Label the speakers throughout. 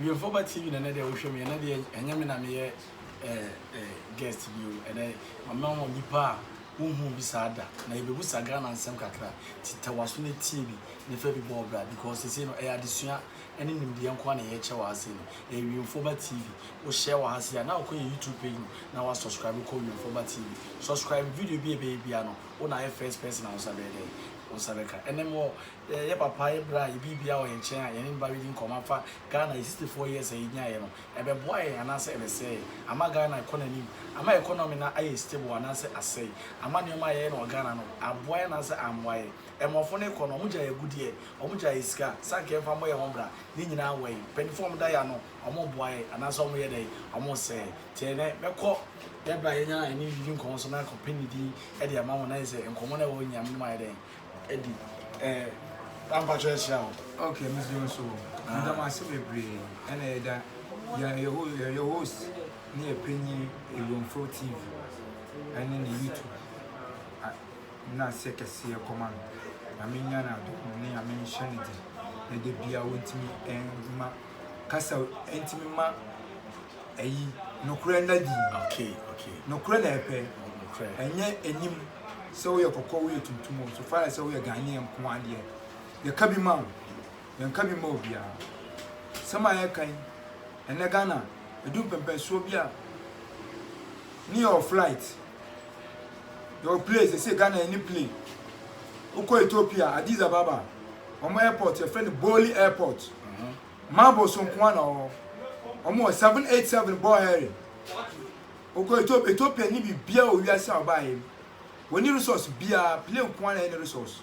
Speaker 1: Wiemfo ba TV na ɛnɛ deɛ wohwɛ me ɛnɛ deɛ ɛnyɛ me na meyɛ guest bio ɛnɛ mama wɔn nipa a wohu bi saa da na yɛbɛbu sa Ghana nsɛm kakra titawaso no tie bi ne fa bi bɔ ɔbra because sese no ɛyɛ adesua Ɛne nimdeɛ nko ara na yɛkyɛ wɔ ha sei no. Ɛyɛ Wiemfoɔba TV. Wo share wɔ ha sei a, na wokɔ yɛn YouTube page mu na wa subscribe kɔ Wiemfoɔba TV. Subscribe, video bi a ɛbɛyɛ biara no, wo na ayɛ first person a wo nsa bɛyɛ dɛn? Wo nsa bɛka. Ɛnɛ mewɔ yɛ papa, yɛ bra, yɛ biribiara wɔ yɛn nkyɛn a yɛne no ba bɛdi nkɔmmɔ afa Ghana, yɛ 64 years a yɛnyaeɛ no, ɛbɛboa yɛn anaasɛ ɛbɛsɛe yɛn? Ama Ghana akɔ n'anim? Ama economy no ayɛ stable anaasɛ asɛe? Ama nneɛma a yɛyɛ no wɔ Ghana no, aboa yɛn anaasɛ ammoa yɛn? Mmorɔfo no kɔ no, wɔgyae agudeɛ, wɔgyae yɛ sika, sɛ anka yɛmfa mmɔ yɛn ho bra, ne nyinaa wɔ he? Mpanyimfoɔ a wɔda yɛ ano, wɔboa yɛn, anaasɛ wɔyɛ dɛn? Wɔsɛe yɛn. Nti ɛnnɛ, mɛkɔ yɛ berɛ a yɛanya a yɛne didi nkɔmmɔ so, na akɔpɛ ne din de ama mo, na ayɛ sɛ nkɔmmɔ no a ɛwɔ hɔ nyinaa, me ne mo ayɛ dɛn? Adi. Ɛɛ, na mpakyɛ yɛahyira wo. Ok, mesrɛ
Speaker 2: nso o. Meda mo ase bebree. Ɛna yɛda yɛn, yɛn ho, yɛn host ne yɛn panyin Ewuamfrɛw TV ɛne ne YouTube. Nna sɛ kɛseɛ kɔma no. Nyame nya no adom ne Nyame nhyɛ no den na da biaa ɔntimi mma kasa ntimi mma ayi nokorɛ nna adi.
Speaker 1: Nokorɛ na
Speaker 2: ɛpɛ ɛnyɛ anim sɛ woyɛ kɔkɔɔ woyɛ tuntum o so far as sɛ woyɛ Ghanaian nkoaa deɛ yɛka bi ma wo. yɛnka bi mma obiara. Nsɛm a yɛreka yi, ɛnnɛ Ghana, ɛdu mpɛmpɛnsoɔ bi a, ne yɛwɔ flight, yɛwɔ plane, sɛ sɛ Ghana yɛne plane. Wokɔ Ethiopia, Addis Ababa, wɔn airport, yɛfrɛ no Boli airport. Marble so nko na ɔwɔ. Wɔn wɔ 787 bɔ hɛre. Wokɔ Ethiopia, Ethiopia ne biribiara wɔ wiase a ɔbaeɛ mu. Wɔn ni resource biara, plane nko na ɛne resource.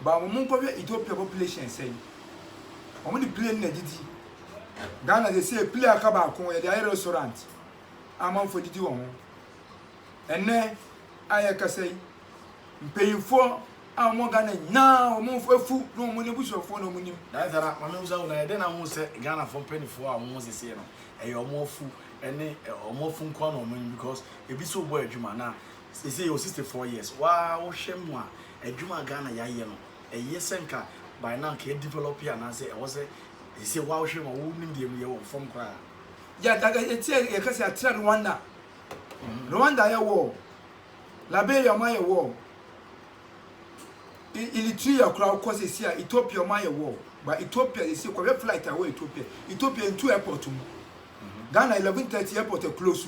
Speaker 2: But wɔn nkɔ hwɛ Ethiopia population sɛn. Wɔn de plane na didi. Ghana sɛ sɛ plane aka baako yɛde ayɛ restaurant. Amanfoɔ didi wɔ ho. Ɛnɛ a yɛkasa yi mpanyinfoɔ a wɔn Ghana nyinaa wɔn afu na wɔn abusuafoɔ na wɔn nim. Daansa na maame bisa wo
Speaker 1: na yɛde na ho sɛ Ghana fo mpanyinfoɔ a wɔn ho sisi no ɛyɛ wɔn afu ɛne wɔn afu nkoa na wɔn nim because ebi so bɔ adwuma na Seisei yɛwɔ sixty four years waa wohwɛ mu a adwuma a Ghana yɛayɛ no ɛyɛ sɛ nka by now nka yɛ develop anaasɛ ɛwɔ sɛ seisei waa wohwɛ mu a wo nimdeɛ mu yɛwɔ fam koraa. Yɛ
Speaker 2: yɛteɛ yɛka sɛ yɛatra Rwanda Rwanda ayɛ war Liberia ɔmo ayɛ war Eritrea koraa wokɔ seisei a Ethiopia ɔmo ayɛ war but Ethiopia seisei kɔhwɛ flight a ɛwɔ Ethiopia Ethiopia ntu airport mu Ghana eleven thirty airport ɛclose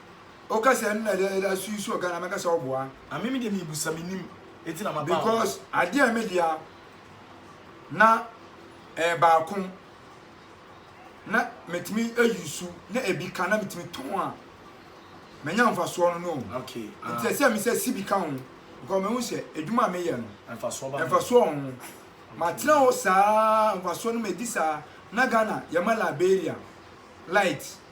Speaker 1: Oka
Speaker 2: sɛ ɛno na ɛda ɛda so yi so wɔ Ghana mɛka sɛ ɔboa. Ame me deɛ me busa me
Speaker 1: nim eti na ma ba. Because adeɛ a me
Speaker 2: dea na ɛyɛ baako na metumi ayi su na ebi ka na metumi tɔn a manya mfasoɔ no no. Okay. Ah. Nti ɛsɛ me
Speaker 1: sɛ si
Speaker 2: bi ka ho because mehu sɛ adwuma a meyɛ no mfasoɔ ba. Mfasoɔ ho. Matena hɔ saa mfasoɔ no medi saa na Ghana yɛma Liberia light.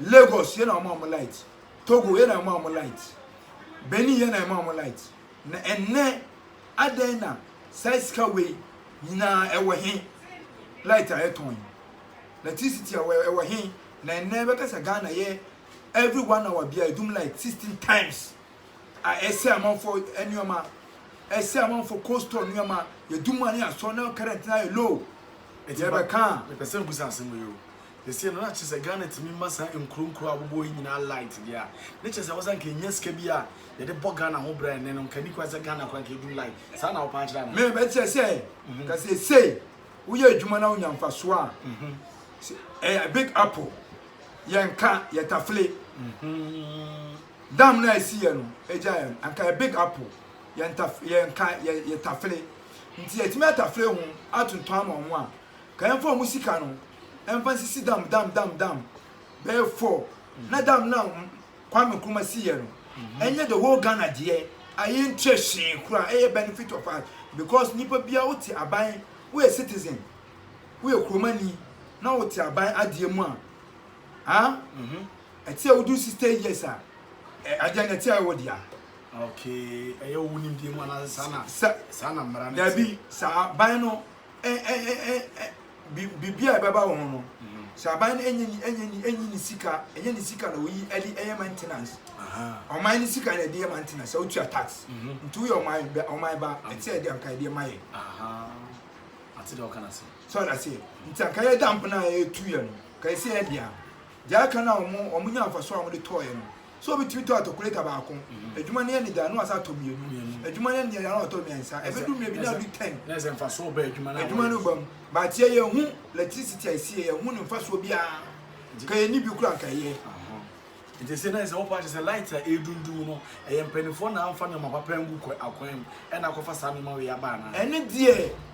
Speaker 2: Lagos yɛ na wɔma wɔn light, Togo yɛ na wɔma wɔn light, Benin yɛ na wɔma wɔn light. Na ɛnnɛ adɛn na saa sika wei nyinaa ɛwɔ he? Light a yɛtɔn yi, electricity a ɛwɔ he? Na ɛnnɛ bɛka sɛ Ghana yɛ every one hour bia edum light sixteen times a ɛsɛ amanfo nneɛma ɛsɛ amanfo cold store nneɛma yɛdum a ne yɛasɔ na current na yɛ low ɛdeɛ bɛka
Speaker 1: a mepɛ sɛ mbusa asɛm yi o Seesei no na kyerɛ sɛ Ghana tumi ma saa nkuro nkuro a wɔbobɔ hɔ yi nyinaa light deɛ a, ne kyerɛ sɛ ɛwɔ sɛ anka yɛnya sika bi a yɛde bɔ Ghana ho bra ɛnnɛ no, anka ɛnni kwan sɛ Ghana koraa anka ɛduru light. Saa na wopaa kyerɛ anaa? Me, mekyerɛ sɛ,
Speaker 2: anka seesei woyɛ adwuma na wonya mfasoɔ a, ɛyɛ big apple, yɛnka, yɛtafle. Dam no a ɛsiiɛ no, ɛgyaeɛ no, anka ɛyɛ big apple, yɛnka, yɛtafle. Nti yɛatumi atafle ho atontɔn ama wɔn a Kaɛnfo a wɔn sika no ɛnfa nsisi dam dam dam dam bɛyɛ four na dam no a Kwame Nkrumah si yɛ no ɛnyɛ the whole Ghana deɛ a yɛn nkyɛ hwee koraa ɛyɛ benefit of us because nipa biara wo te aban wo yɛ citizen wo yɛ kuromani na wo te aban adeɛ mu a ah ɛte a wo do sixty years a ɛ adeɛ no ɛte a ɛwɔ deɛ okay
Speaker 1: ɛyɛ wo nimdeɛ mu anaasɛ saa na saa na mmara no ɛte dabi saa aban
Speaker 2: no biribi a ɛbɛba wɔn no sɛ aban no enye enye enye ne sika enye ne sika na oyi ɛde ɛyɛ maintenance ɔman ne sika na ɛde yɛ maintenance sɛ otua tax mhm. nti woyɛ ɔman bɛ ɔman ba ɛte sɛ ɛde anka ɛde ɛma yɛ
Speaker 1: ate dɛ ɔka na se sɛ ɔda se nti
Speaker 2: anka yɛ damp na ɛtu yɛ no ka ɛsɛ yɛ dea deɛ aka na wɔn wɔn nya nfa so a wɔn de tɔɔ yɛ no So obi tumi tɔ atɔkuleta baako? Adwuma no yɛ ne dɛ a, na wasan atɔ mmienu. Adwuma no yɛ ne dɛ a, na watɔ mmiɛnsa. Ɛbɛdu mmerɛ bi na adu ten. Na ɛsɛ mfasoɔ ba
Speaker 1: adwuma no a wɔyɛ. Adwuma no ba mu.
Speaker 2: But yɛ yɛn hu electricity a ɛsi yɛ, yɛn hu ne mfasoɔ biara. Ka yɛn ni bi kura nka yɛ. Nti sɛ
Speaker 1: na ɛsɛ wɔpa akyɛ sɛ light a ɛredundum no, ɛyɛ mpanimfoɔ na amfa nneɛma papa angu akwan mu, ɛna akɔfa saa nneɛma wei aba anaa? Ɛne deɛ.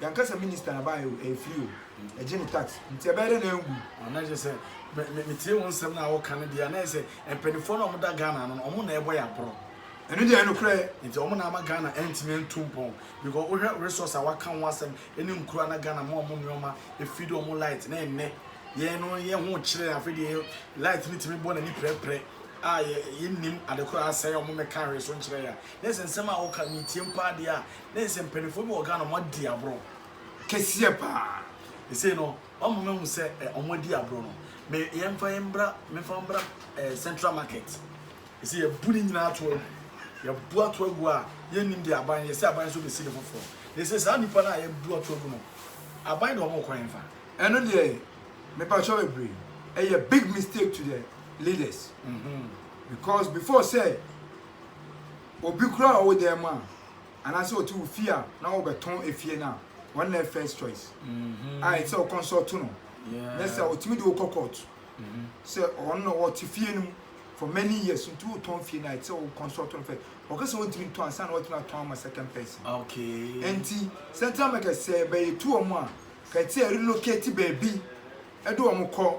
Speaker 2: Yɛn ankasa minista na baeɛ o, ɛyɛ free o, ɛgye ne tax, nti ɛbɛyɛ dɛn na anwu? Na na kyerɛ sɛ,
Speaker 1: me, me, metie wo nsɛm no a woka no deɛ a, na ɛyɛ sɛ mpanimfoɔ no a wɔda Ghana ano no, wɔn na ɛrebɔ yɛn aporɔ. Ɛno deɛ ɛyɛ nokorɛ.
Speaker 2: Nti wɔn na ama Ghana
Speaker 1: antumi antu mpɔn. Because wohwɛ resource a wɔaka ho asɛm ne nkuro a na Ghana ma wɔn nneɛma, ɛfeed wɔn light, na ɛnnɛ, yɛn no yɛn ho rekyere yɛn, afei deɛ yɛ, light no tumi bɔ n'ani prɛprɛ a yɛ, yɛnnim ade korɔ a asɛe a wɔmmɛka anhwɛso nkyerɛ yɛn a. Na ɛyɛ sɛ nsɛm a woka, metie mpo ara deɛ a, ne nsɛm mpanyimfoɔ bi wɔ Ghana wɔn adi agorɔ kɛseɛ
Speaker 2: paa ɛsei no
Speaker 1: wɔn mama hu sɛ ɛ wɔn adi agorɔ no me yɛn fa yɛn bra me fa bra ɛ central market ɛsei yɛ bu ne nyinaa ato agu yɛ bu ato agu a yɛn nim de aban yɛ sɛ aban nso bɛsi ne foforɔ na ɛsei saa nipa no a yɛ bu ato agu no aban de wɔn kɔ yɛn fa ɛno deɛ
Speaker 2: me pa kyɛw bebree ɛyɛ big mistake to the leaders mm -hmm. because before say obi kura ɔwɔ dan mu a. anaasɛ ɔte wo fie a na wɔbɛtɔn efie no a wɔn na first choice a ɛsɛ sɛ ɔkɔnsɔlto no nyɛ sɛ ɔtumi de wokɔ court sɛ ɔno na ɔte fie no mu for many years nti wotɔn fie no a ɛsɛ sɛ wokɔnsɔlto no fɛ ɔka sɛ ɔntumi ntɔn ansa na watumi atɔn ama second person nti
Speaker 1: Central
Speaker 2: America sɛ bɛyɛ tu wɔn a ka ɛte relocate baabi ɛde wɔn kɔ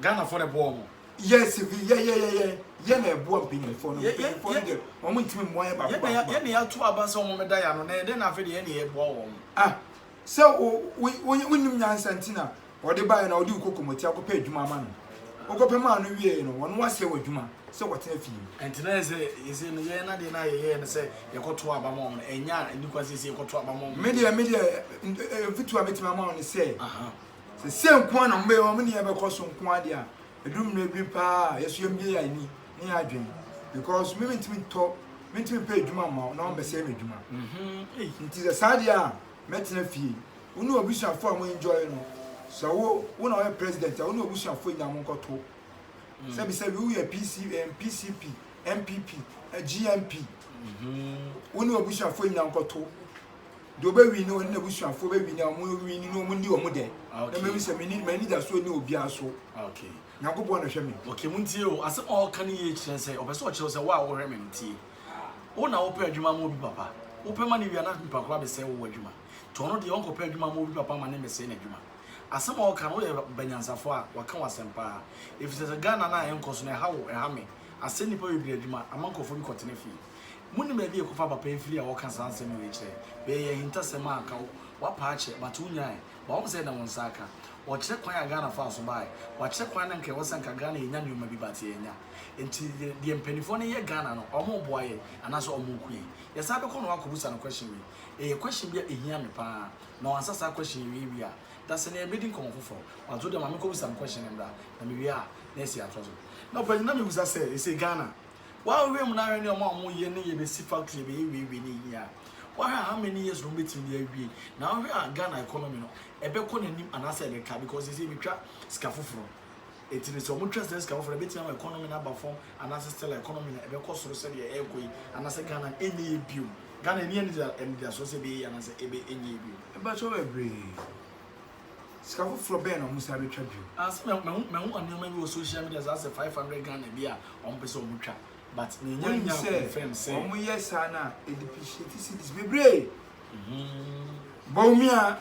Speaker 2: Ghana fo na ɛboa
Speaker 1: wɔn. Yes vi yɛ yɛ
Speaker 2: yɛ yɛ yɛ na ɛboa mpanyinfoɔ no mpanyinfoɔ no deɛ wɔn ntumi mmoa yɛ baako baako baako. Yɛ na yɛ ato aba
Speaker 1: sɛ wɔn da yɛ ano na yɛ dɛ na afei deɛ yɛ na yɛ ɛboa wɔn. Ah sɛ wo
Speaker 2: wo wo wonim nyansa nti na wɔde baayɛ na wɔde wokɔ kɔmɔti akɔpɛ adwuma ama no wokɔpɛ maa no wie no wɔn wasɛ wɔ adwuma sɛ wɔtena fie. Ɛnti na yɛ sɛ
Speaker 1: yɛ sɛ no yɛ na deɛ na yɛ yɛ no sɛ yɛkɔto aba ma wɔn ɛnya ɛni kwan sɛ yɛ sɛ yɛkɔto aba ma wɔn. Medeɛ medeɛ
Speaker 2: mfutuo a mɛtumi ama wɔn ne sɛ. sɛ sɛ nko ara na wɔn bɛyɛ wɔn nneɛma bɛkɔ so nko ara deɛ a ɛduru mmerɛ bi paa a yɛso yɛn bie yɛn ani ne yɛn adwene because me mentumi ntɔ mentumi mpɛ adwuma mma wo na wɔn bɛsɛ yɛn adwuma mhm. nti sɛ saa deɛ a mɛtena fie wo ne obusuafo a mo enjoy no sɛ wo wo na wɔyɛ president a wo ne obusuafo nyinaa mo nkɔto mm. sɛbi sɛbi wo yɛ PC PCP MPP GMP mhm. wo ne obusuafo nyinaa nkɔto. Deɛ ɔbɛwini no ɔne n'abusuafoɔ bɛwini a wɔwini no wɔn ni wɔn dɛ na mɛhu sɛ meni m'anidasoɔ ni obiara so nyankopɔn
Speaker 1: na ɔhwɛ me.
Speaker 2: ok mo ntie o asɛm
Speaker 1: a ɔka no yie kyerɛ sɛ ɔpɛ sɛ ɔkyerɛ sɛ wo a wohwɛ me no tie wo na wopɛ adwuma ma obi papa wopɛ ma ne wia na nipa kora bɛsɛe wo adwuma nti ɔno deɛ ɔnkɔpɛ adwuma ma obi papa ma ne mmɛsɛe n'adwuma asɛm a ɔka no woyɛ banyansafoɔ a waka w'asɛm paa ɛfisɛ sɛ Ghana no a ɛnkɔ so no ɛha wo ɛha me asɛe nnipa bebree adwuma ama nkurɔfoɔ bi kɔtena fie Munim baabi a yɛkɔfa aba pɛn firi a wɔka saa nsɛm wei kyerɛ? Wei yɛ ahintasɛm a anka woapa akyɛ but wonyae. But wohu sɛ ɛyɛ na wo nsa aka. Wɔkyerɛ kwan a Ghana faa so baeɛ. Wɔakyerɛ kwan na anka ɛwɔ sɛ anka Ghana yɛnya nneɛma bi but yɛannya. Nti deɛ mpaninfoɔ no yɛ Ghana no, wɔreboa yɛn anaasɛ wɔreko yɛn? Yɛsan bɛkɔ na woakɔbusa no question wei. Ɛyɛ question bi a ɛhia me pa ara. Na wansa saa question yi wei wie a, dasani yɛbɛdi nkɔmmɔ foforɔ. But wo deɛ ma menkɔbusa no question no mmra na mewie a na yɛasi atoa so. Na ɔpanyin na mebusa sɛ ɛsei Ghana Wa wo hwɛ mu na hwɛ ne ɔma ɔmo yɛ ne yɛ bɛ si factory yɛ bɛ yɛ wei wei ne yɛ a wa hwɛ a how many years na ɔmo bɛ timi de awie na wo hwɛ a Ghana economy no ɛbɛ kɔ n'anim anaasɛ ɛbɛ ka because sɛsɛ yɛ twa sika foforɔ ɛti no sɛ ɔmo twa sɛ sika foforɔ ɛbɛ timi ama economy no aba fam anaasɛ still a economy no ɛbɛ kɔ soro sɛdeɛ ɛɛkɔ yi anaasɛ Ghana no ɛnyɛ yɛ bio Ghana ɛni ɛnidasoɔ sɛ ɛbɛ yɛ yɛ anaasɛ ɛbɛ ɛnyɛ yɛ bio. Mpakyɛw bebree
Speaker 2: Sika foforɔ bɛn na ɔmo san bɛtwa bio? Ah sɛ ma mahu
Speaker 1: mahu nnoɔma bi wɔ social media saa sɛ five hundred Ghana bi a wɔn pɛ sɛ wɔn twa but me nya nya confirm
Speaker 2: sɛ. Wɔn yɛ saa na e depreciate cedis bebree. Bawumia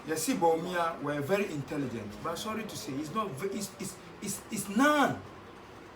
Speaker 2: yɛsi Bawumia wɔ yɛ very intelligent but sorry to say is not is is is is none.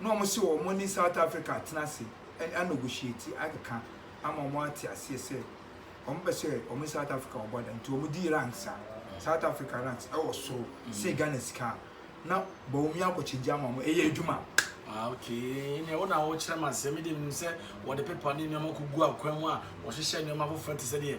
Speaker 2: na wɔn se wɔn ne South Africa atena ase anɔgohyiati akeka ama wɔn ate aseɛ sɛ wɔn pɛ sɛ wɔn ne South Africa wɔn bɔ ada nti wɔn di ranks a South Africa ranks ɛwɔ soro se Ghana sika a na Bawumia akɔkyegye ama wɔn ɛyɛ adwuma. Ah okay ɛnna
Speaker 1: wɔn na wɔkyerɛ ma sɛ mi de nim sɛ wɔde pepa ne nneɛma kɔ gu akwan mu a wɔhyehyɛ nneɛma foforɔ te sɛ deɛ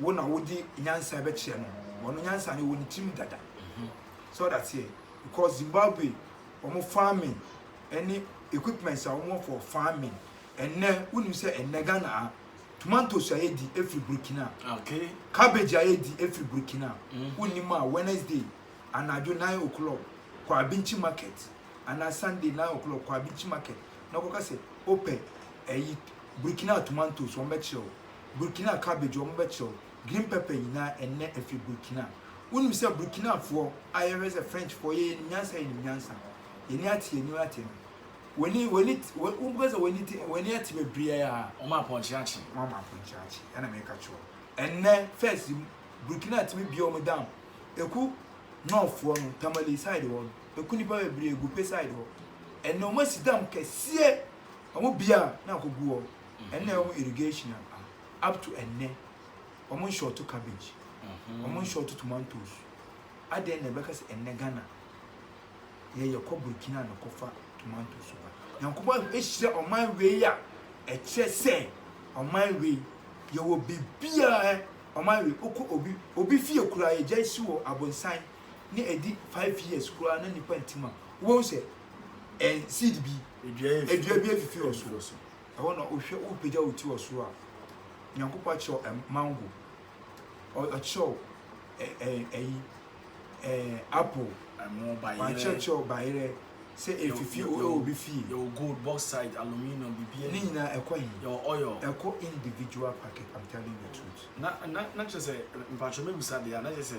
Speaker 2: wo na wode nyansa bɛkyerɛ no ɔno nyansa no wɔ ne tirim dada so ɔda teɛ because Zimbabwe wɔn farming ɛne equipments a wɔn for farming ɛnɛ wonim sɛ ɛnɛ Ghana a tomatoes a yɛdi efiri Burkina okay.
Speaker 1: cabbage a yɛdi
Speaker 2: efiri Burkina mm. wonim a Wednesday anadwo nine o'clock kɔ abinchi market anaa Sunday nine o'clock kɔ abinchi market na kɔka sɛ wopɛ ɛyi Burkina tomatoes wɔn bɛkyerɛ o. Burkina cabbage wɔn bɛ kyerɛw green pepper nyinaa ɛnnɛ ɛfiri Burkina wonim sɛ Burkina foɔ a yɛ hwɛ sɛ French foɔ yɛ yɛnim nyansa yɛnim nyansa yɛni ate yɛnim ate no wɔni wɔni wɔn bɛ sɛ wɔni te wɔni ate bebree a wɔn apɔnkye akye
Speaker 1: wɔn ama apɔnkye akye
Speaker 2: ɛna mɛ ɛka kyerɛw ɛnnɛ first Burkina tumi bie wɔn down eku nɔɔfoɔ no tamale side hɔ no eku nipa bebree egu pe side hɔ ɛnnɛ wɔn asi dam kɛseɛ wɔn bia na akɔ gu hɔ ɛnna ɛwɔ irrigation a, up to ɛnnɛ, wɔnshɔɔto cabbage, wɔnshɔɔto tomatoes. Adɛn na ɛbɛka sɛ ɛnnɛ Ghana yɛ yɛkɔ Burkina na kɔfa tomatoes ba? Nyankopɔn ahyira ɔman wei a, ɛkyerɛ sɛ ɔman wei yɛwɔ biribiara. Ɔman wei, wokɔ obi obi fie koraa, yɛgyae si wɔ Abonsan na ɛdi five years koraa na nnipa ntim a, wobɛhu sɛ seed bi, dua bi afifi wɔ so. Ɛhɔ na wohwɛ, wopagya wo ti wɔ soro a, Nyankopɔn akyerɛ wo mango, ɔkyerɛ wo ɛyi, apple,
Speaker 1: wakyerɛkyerɛ
Speaker 2: wo bayerɛ sɛ efifi wɔ obi fie. Yɛwɔ gold, bauxite,
Speaker 1: aluminium, biribiara. Ne nyinaa ɛkɔ he? Yɛwɔ
Speaker 2: oil. Ɛkɔ
Speaker 1: individual
Speaker 2: packet, I'm telling the truth. Na, na, na kyerɛ sɛ,
Speaker 1: mpakyɛ mɛbisa deɛ a, na kyerɛ sɛ,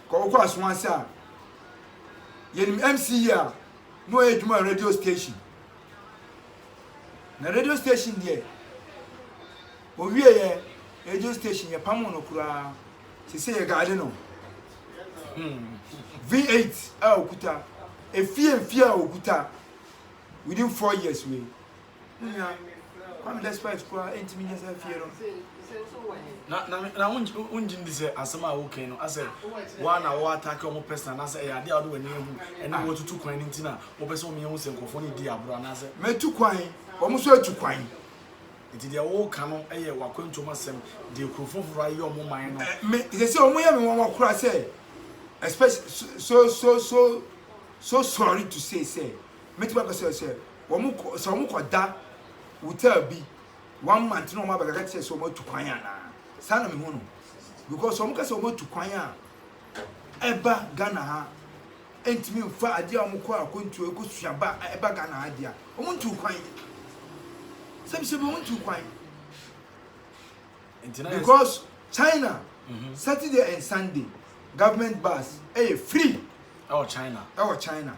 Speaker 2: Kɔ wokɔ aso ase a yɛnim MC yie a na ɔyɛ adwuma wɔ radio station na radio station deɛ owie yɛ radio station yɛ pamo no koraa sese yɛ gaade no hmm. V8 a okuta efie efie a okuta within four years wei. Me nua, Kwame despite koraa entumi nyɛ saa fie no. Na na na
Speaker 1: wongye ndi sɛ asɛm a wokan no asɛ woa na wo attack ɔmo personal anaasɛ ɛyɛ ade a wode w'ani ahu ɛne woatutu kwan no nti na wopɛ sɛ ɔmo yɛhu sɛ nkurɔfoɔ no di agorɔ anaasɛ Matu kwan,
Speaker 2: ɔmo nso atu kwan. Nti deɛ
Speaker 1: woka no yɛ w'akwantuom asɛm deɛ kurofoɔ foforɔ ayeyɛ ɔmo man no. Me sɛsɛ ɔmo yɛ
Speaker 2: me nwanwa koraa sɛ especially so so so so sorry to say sɛ mɛtumi aka sɛ sɛ wɔn kɔ sɛ wɔn kɔ da hotel bi one month na wɔn abɛka kyerɛ sɛ wɔn atu kwan anaa saa na mehu no because wɔn ka sɛ wɔn atu kwan a ɛba Ghana ha ɛntumi nfa adeɛ a wɔn kɔ akɔntuo ɛkɔ suaba a ɛba Ghana ha deɛ wɔn ntu kwan sɛbisɛbi wɔn ntu kwan because China mm -hmm. Saturday and Sunday government bus ɛyɛ free ɛwɔ China
Speaker 1: ɛwɔ China.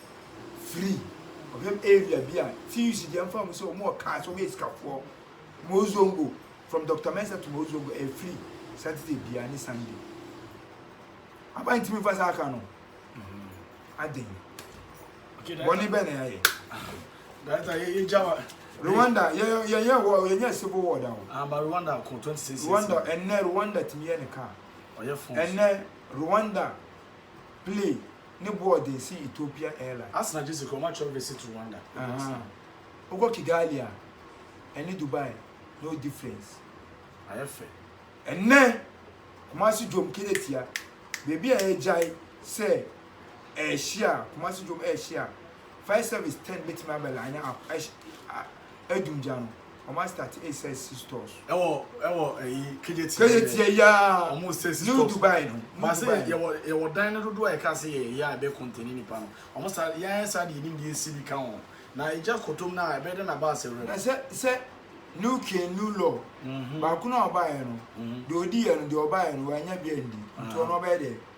Speaker 2: firi ɔhwɛm area bi a TUC deɛ mfa mu sɛ wɔn wɔ cars wɔn yɛ sikafoɔ Mozongo from Dr Mensah to Mozongo ɛyɛ free Saturday biara ne Sunday aba ntumi nfa saa ka no aden bɔne bɛn na yɛayɛ Data yɛ yɛ gyawa. Rwanda yɛ yɛ yɛ wɔ yɛ nyɛ civil war da o Aba ah, Rwanda kɔ
Speaker 1: twenty six. Rwanda ɛnɛ Rwanda
Speaker 2: tumi yɛ ne car ɛnɛ Rwanda play ne boɔ ɔde nsi Ethiopia Airline. Asena gye si kɔ ma kyerɛ
Speaker 1: visit Rwanda. Ahaa wokɔ
Speaker 2: Kigali a ɛne Dubai no difference. Ayɛ fɛ.
Speaker 1: Ɛnnɛ
Speaker 2: Kumasi dwom keretia baabi a yɛgyae sɛ ɛrehyia Kumasi dwom ɛrehyia fire service tent bɛtumi abɛlaene up ɛhyɛ a. adu gya no ɔmo asitati esɛ si stores. ɛwɔ ɛwɔ ɛyi kejeti kejeti ɛyi aa ɔmo sɛ si stores new dubai no baasi yɛwɔ
Speaker 1: yɛwɔ dan no dodo a yɛka se yɛ yɛ a ɛbɛ kɔntɛni nipa no ɔmo sa yɛn sa de yɛnim de esi bi ka ho na egya kɔtɔm na ɛbɛ de na baasi wura. na sɛ sɛ
Speaker 2: new king new law baako na ɔbaayɛ no deɛ ɔdi yɛ no deɛ ɔbaayɛ no wanya bi andi nti ɔno ɔbɛyɛ deɛ.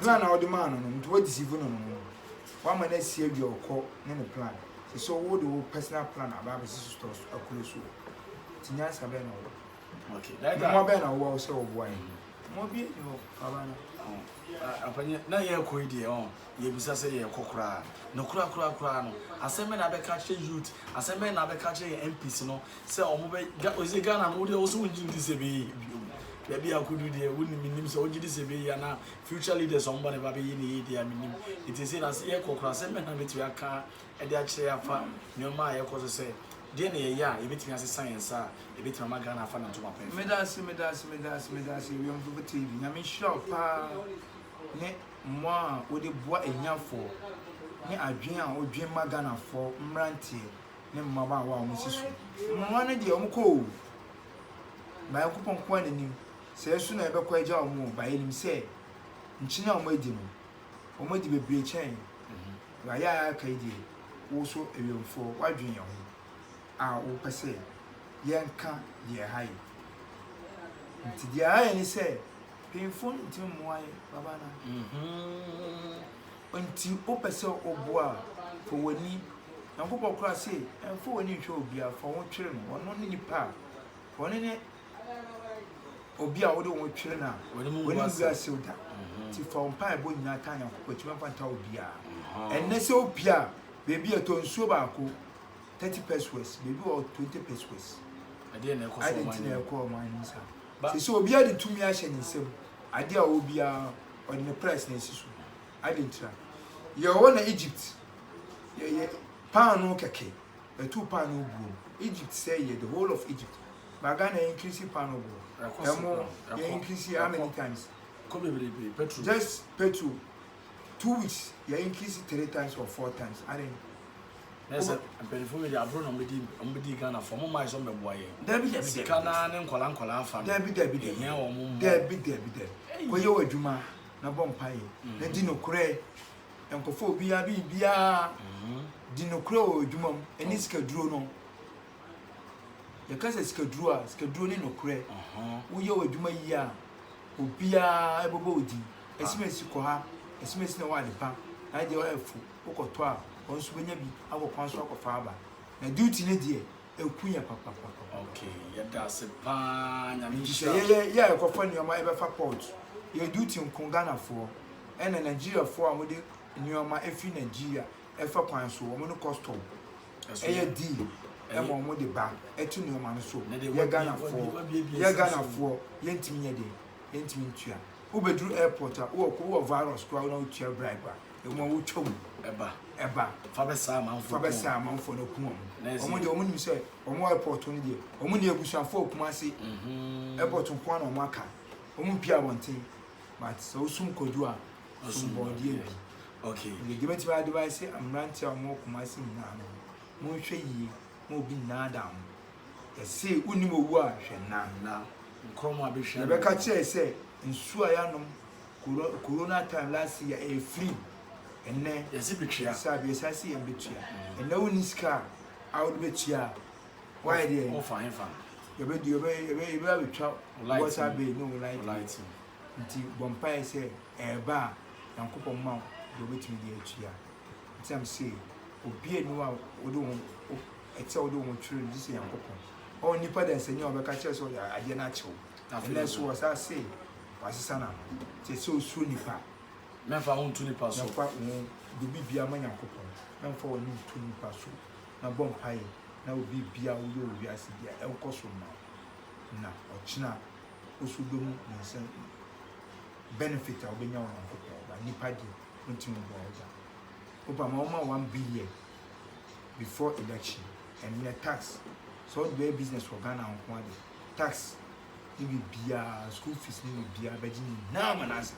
Speaker 1: plan na ɔde maa no no nti
Speaker 2: wɔ deceive no no wama no asi awie ɔkɔ ne ne plan sɛ sɛ wo de wo personal plan aba abɛsi so store so akuro so ti nyansa bɛn na ɔwɔ okay that mo bɛn
Speaker 1: na ɔwɔ
Speaker 2: sɛ ɔboa yɛn mo bi ni hɔ baba no ampanye
Speaker 1: na yɛ kɔ yi deɛ ɔn Yɛbisa sɛ yɛrekɔ koraa no koraa koraa koraa no asɛm bɛn na abɛka akyerɛ youth asɛm bɛn na abɛka akyerɛ yɛn MPs no sɛ wɔn bɛ ga ɔsi Ghana no wodeɛ wɔsɛ wongye di sɛ bɛyɛ yie bio baabi a akodu deɛ wonim menim sɛ wogye di sɛ bɛyɛ yie anaa future leaders wɔn ba ne ba bɛyɛ ne yie deɛ a menim nti sɛ na sɛ yɛrekɔ koraa asɛm bɛn na bɛtumi aka de akyerɛ afa nneɛma a yɛrekɔ so sɛ deɛ na yɛyɛ a yɛbɛtumi asesa yɛn nsa a yɛbɛtumi ama Ghana afa ne ntoma pɛn. Medase medase
Speaker 2: medase medase Wiemfo TV nyame nhyira wo paa ne. mmoa a wode boa ahiafoɔ ne adwene a wodwen ma Ghanafoɔ mmeranteɛ ne mmabaawa a wɔsi so. Mmoa no deɛ wɔkɔ oo, ba Nyankopɔn nko ara na nim, sɛɛ nso na yɛbɛkɔ agya wɔn oo, ba yɛnim sɛ nkyene a wɔadi no, wɔadi bebree kyɛn, ba yɛ a yɛaka yi deɛ, wo nso awiɛmfoɔ woadwen yɛn ho a wopɛ sɛ yɛnka deɛ ɛha yɛn. Nti deɛ ɛha yɛn ne sɛ. Mpanyinfoɔ ntumi mmoa yɛn baba na. Mm-hmm. Nti wopɛ sɛ ɔboa fa w'ani. Nyankopɔn koraa se ɛmfa w'ani nhwɛ obiara fa ho twere no. Ɔno ne nipa a ɔno ne obi a wode ho twere no a w'ani mu gu asew da. Mm-hmm. Nti fa wo mpaebɔ nyinaa taa Nyankopɔn atumi mfa ntaa obiara. Mm-hmm. Ɛnnɛ sɛ wopie a baabi a ɛtɔ nsuo baako 30 pesos baabi wɔ 20 pesos. Ɛdeɛ na ɛkɔ
Speaker 1: so ɔman no. Ɛdeɛ na ɛkɔ ɔman no
Speaker 2: saa. Te sɛ obiara de tumi ahyɛ ne nsam, ade a ɔwɔ biara ɔde ne prɛs na ɛsi so. Adɛn ntira? Yɛwɔ na Egypt yɛyɛ paanoo kɛkɛ, yɛto paanoo buom. Egypt sɛe yɛ, the whole of Egypt. Ba Ghana yɛ increase paanoo boɔ, ɛmo yɛ increase how many times?
Speaker 1: Just petrol.
Speaker 2: two weeks yɛ increase three times or four times adɛn. na sɛ
Speaker 1: mpanyinfoɔ bi de aburo na wɔbɛdi wɔbɛdi Ghana fo wɔn maa yɛ sɛ wɔbɛboa yɛn. dabi dabi sika naa
Speaker 2: ne nkɔla
Speaker 1: nkɔla afa no. dabi dabi dabi ehia wɔn
Speaker 2: mo. dabi dabi dabi kɔyɛ wɔ adwuma na bɔ mpa yɛ mm. na di nokorɛ nkɔfo obiara bi biara mm-hmm. di nokorɛ wɔ adwuma mu ɛne oh. sika duro no. yɛka sɛ sikaduro a sikaduro ne nokorɛ woyɛ w'adwuma yie a obiara bɛbɔ wo din asimesi kɔ ha asimesi na ɛwɔ ade pa na adeɛ ɔyɛ fo wokɔtɔ a wɔn nso bɛnya bi akɔ kwan so akɔfa aba na duty ne deɛ ɛku yɛ papapapa okay
Speaker 1: yɛda ase paa nyame nhyira yɛyɛ yɛ a ɛkɔfa
Speaker 2: nneɛma ɛbɛfa port yɛ duty nko ghanafoɔ ɛna nigeriafoɔ a wɔde nneɛma ɛfiri nigeria ɛfa kwan so wɔn ne kɔstɔm ɛyɛ deal ɛma wɔn de ba ɛte nneɛma no so yɛ ghanafoɔ yɛ ghanafoɔ yɛntumi nyɛ deɛ yɛntumi ntua wobɛduru airport a wowɔ ko wowɔ virus koraa na wotua bribe a ɛmu a wotwa mu ɛba ɛba fa bɛsaa amanfoɔ
Speaker 1: fa bɛsaa amanfoɔ no
Speaker 2: kuma mu wɔn deɛ wɔn nim sɛ wɔn airport no deɛ wɔn ne abusuafoɔ okuma ase mhm. airport nko na wɔn aka wɔn mpia abɔnten but sɛ wosum kodu a asomɔdeɛ bi. Deɛ
Speaker 1: mɛtumi advice
Speaker 2: mmeranteɛ a wɔwɔ Kumasi nyinaa no, monhwɛ yie ma obi nnaadaa mo. Ɛse wonim owu a hwɛ nna. Nna. Nkorɔmɔ a bɛhwɛ.
Speaker 1: Yɛbɛka kyerɛ sɛ
Speaker 2: nsuo a yɛanom corona time last year ɛyɛ free. Ɛnɛ. Yɛse bɛtua. Saa bi
Speaker 1: yɛsan se yɛn bɛtua.
Speaker 2: Ɛnɛ wonni sika a wode bɛtua a. Wayɛ deɛ. Wɔfa hefa.
Speaker 1: Yɛbɛdi yɛbɛ
Speaker 2: yɛbɛ yɛbɛ abɛtwa. Light. Water bill ne wo light bill. Nti bɔ mpaeɛ sɛ ɛɛba a Nyankopɔn mma wo deɛ wobɛtumi de atua. Nti na mese obiaa nni hɔ a wode wo ho, ɛte sɛ wode wo ho twere no gyesɛ Nyankopɔn. Ɔwɔ nnipa dansani a ɔbɛka kyerɛ wo sɛ ɔde adeɛ no akyɛ wo. Ɛnnɛ nso wɔsan se wasesa n'ano. Nti ɛsɛ sɛ wosuro nnipa. Mɛmfa wo nto
Speaker 1: nnipa so. Mɛmfa wo de biribiaa ma Nyankopɔn. Mɛmfa w'ani nto nnipa so. Na bɔ mpaeɛ na biribiaa a woyɛ wɔ wiase biaa ɛnkɔ so mma wo. Na ɔkyena woso dɔ mu nyinsɛn no benefit a wobɛnya wɔ Nyankopɔn ba nipa deɛ wontumi mboa wo gya woba ma woma one billion before election ɛnɛ tax sɛ wode bɛyɛ business wɔ Ghana nko ade tax ne biribiaa school fees ne biribiaa bɛgye nyinaa ma no asa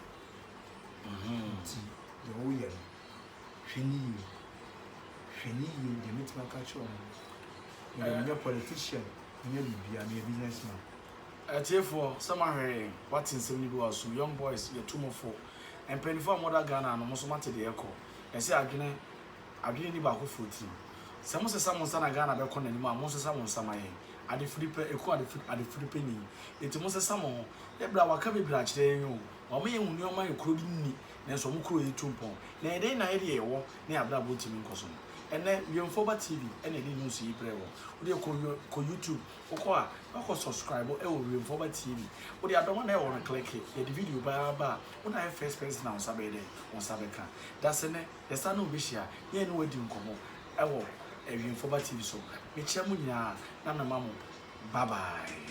Speaker 1: nti deɛ woyɛ no hwɛ ne yie hwɛ ne yie deɛ mɛtumi aka kyerɛ wo no mede menyɛ politician menyɛ biribiaa meyɛ businessman Atiefoɔ, sɛ moahwɛ yɛn, wate nsɛm no bi wɔ asom, young boys, yɛtu mo fo. Mpaninfoɔ a moda Ghana no, mo nso moate deɛ ɛrekɔ. Ɛsɛ adwene, adwene nni baakofoɔ tirim. Sɛ mosesa mo nsa na Ghana bɛkɔ n'anim a, monsesa mo nsa ma yɛn. Adefiri pɛ, ɛku adefiri, adefiri pɛ nyin. Enti monsesa mo ho. Ne berɛ a wɔaka bebree akyerɛ yɛn o. Wɔama yɛahu nneɛma a yɛn kuro de nni, nanso wɔn kuro retu mpɔn. Na ɛdɛn na yɛde yɛn wɔ ne yɛn abrabɔ ntumi nkɔ so no? Ɛnnɛ, Wemfoɔ Ba TV na ɛde news yi brɛɛ wo. Wodeɛ kɔ, kɔ YouTube Wokɔ a na kɔ subscribe ɛwɔ Wiemfɔba TV wode adɔm a na ɛwɔ no click yɛde video baa aba a wo na ayɛ first person a wo nsa bɛyɛ dɛn wo nsa bɛka dase nɛ yɛsan ne wo bɛhyia na yɛne wo adi nkɔmɔ ɛwɔ Wiemfɔba TV so mekyia mo nyinaa na mema mo bye bye.